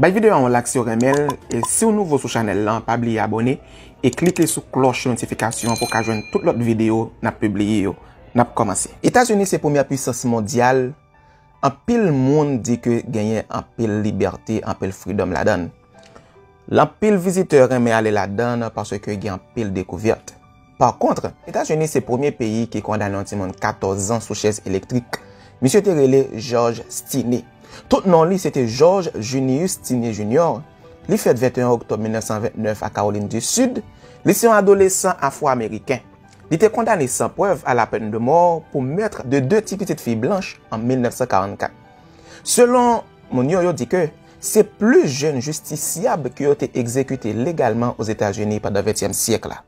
Bay video a yon lak siw renmenl e siw nouvo sou chanel lan pa bliye abone e klike sou klòch notifikasyon pou ka jwenn tout lòt video nap pibliye yo nap kòmanse. Etazini se premyè pwisans mondyal, anpil moun di ke genyen anpil libète, anpil freedom ladann. L anpil vizitè renmen ale ladann paske gen anpil dekouvèt. Pa kontre, Etazini se premye peyi ki kondane yon timoun 14 zan sou chèz elektrik. Misye te rele George Stinney. Tout non li se te George Junius Stinney Junior. Li fèt 21 oktòb 1929 a Kawolin di Sid. Li se yon adolesan Afwo-Ameriken. Li te kondane san prèv a la pèn de mò pou meurtre de 2 ti pitit fi blanch an 1944. Selon moun yo, yo di ke se plis jenn jistisyab ke yo te egzekite legalman Ozetazini pandan ventyèm syèk la.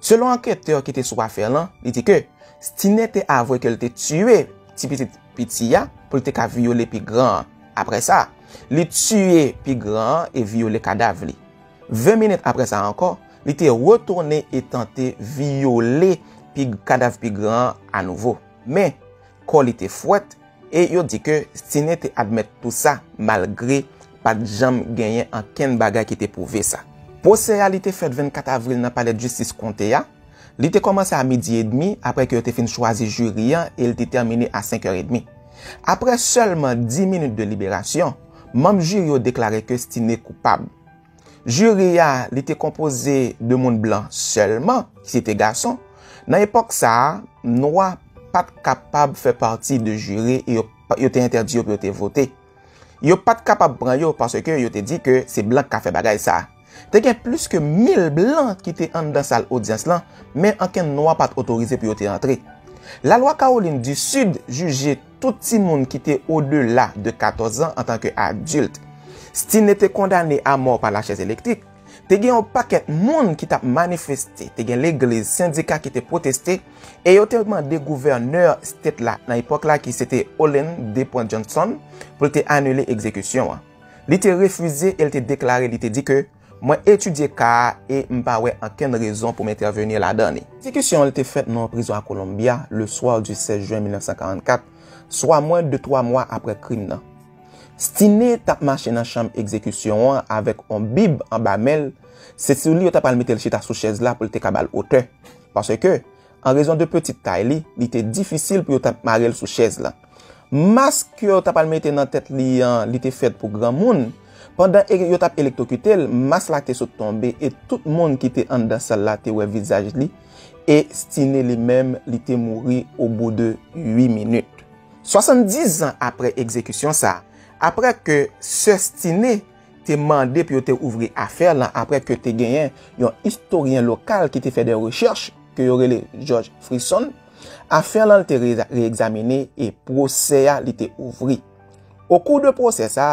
Selon anketè ki te sou afè lan, li di ke Stine te avwe ke li te tiye ti pitit piti a pou li te ka vyole pi gran an. Apre sa, li tiye pi gran an e vyole kadav li. 20 minit apre sa ankò, li te retounen e tante vyole kadav pi gran an anouvo. Men, kò li te fwèt E yo di ke Stiné te admèt tou sa malgre pat janm genyen ankenn bagay ki te pwouve sa. Pwosè a li te fèt 24 avril nan palè d'jistis konte a. Li te kòmanse a midi edmi apre ke yo te fin chwazi jiri an e li te tèmine a 5 è edmi. Apre sèlman 10 minit de liberasyon, manm jiri yo deklare ke Stiné koupab. Jiri a, li te konpoze de moun blan sèlman, ki se te gason. Nan epòk sa a, nwa pa t kapab fè pati de jiri e yo te entèdi yo pou yo te vote. Yo pa t kapab pran yo paske yo te di ke se blan ki ka fè bagay sa. Te gen plis ke mil blan ki te anndan sal odyans lan, men ankenn nwa pa t otorize pou yo te antre. Lalwa Kawolin di Sid jije. tout timoun ki te odela de 14 an antanke adilt. Sti ne te kondane a mò pa lachèz elektrik. Te gen yon pakèt moun ki t ap manifeste, te gen legliz, sendika ki te pwoteste, e yo te mande gouvènè state la nan epòk la ki se te Olin D. Point Johnson pou l te anile egzekisyon an. Li te refize e l te deklare li te di ke. Mwen etidye ka a e m pa wè ankenn rezon pou m entèveni ladan li. Ekzekisyon an te fèt nan yon prizon a Columbia le soir du 16 juin 1944, swa mwen de twa mwa apre krim nan. Stinney t ap mache nan chanm ekzekisyon an avèk yon bib anba men l, se sou li yo t apral mete l chita sou chèz la pou l te ka ba l otè, paske, An rezon de peti tay li, li te difisil pou yo ta mare l sou chèz la. Mask ke yo ta pral mete nan tèt li an, li te fèt pou granmoun. Pandan e yo tap elektokite l, mask la te sot tonbe e tout moun ki te anndan sal la te wè vizaj li e Stiné li menm li te mouri o bou de 8 minit. 70 zan apre egzekisyon sa, apre ke sè Stiné te mande pou yo te ouvri afè lan apre ke te genyen yon istoryen lokal ki te fè de rechèch, ke yo rele Jòj Frison, afè lan te re-egzamine e pwosè a li te ouvri. O kou de pwosè sa,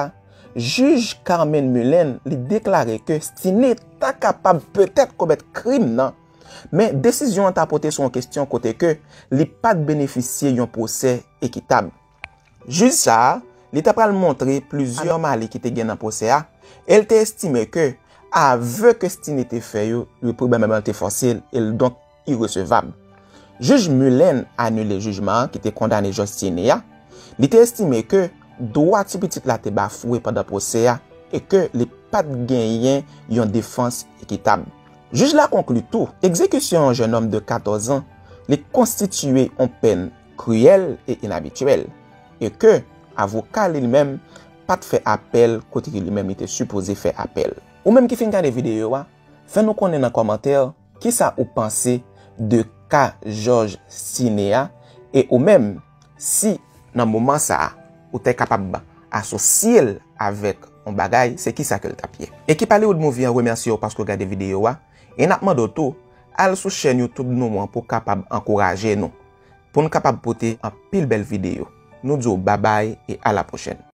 jij Carmen Mullen li deklare ke Stiné ta kapab petèt komèt krim nan, men desizyon an ta pote sou yon kestyon kote ke li pat benefisye yon pwosè ekitab. Jij sa a, li ta pral montre plizyè mali ki te gen nan pwosè a, e l te estime ke ave ke Stinney te fè yo dwe pwobableman te fòse e l donk iresevab. Jij Mullen anile jijman an ki te kondane Josh Stinney a, li te estime ke dwa ti pitit la te bafwe pandan pwosè a e ke li pa t genyen yon defans ekitab. Jij la konkli tou, egzekisyon yon jennonm de 14 an li konstitiye yon pèn kriyèl e inabityèl, e ke avoka li menm pat fè apèl kote ke li menm li te sipoze fè apèl. Ou menm ki fin gade videyo a, fè nou konnen nan kòmantè kisa ou panse de ka Jòj Sine a, e ou menm si nan moman sa a ou te kapab asosye l avèk yon bagay se kisa ke l tap ye. Ekip Hollywood Movie an remèsye w paske w gade videyo a, e nap mande w tou al sou chèn YouTube nou an pou w kapab ankouraje nou. Pou n kapab pote anpil bèl videyo. Nou di w babay e a la pwochèn.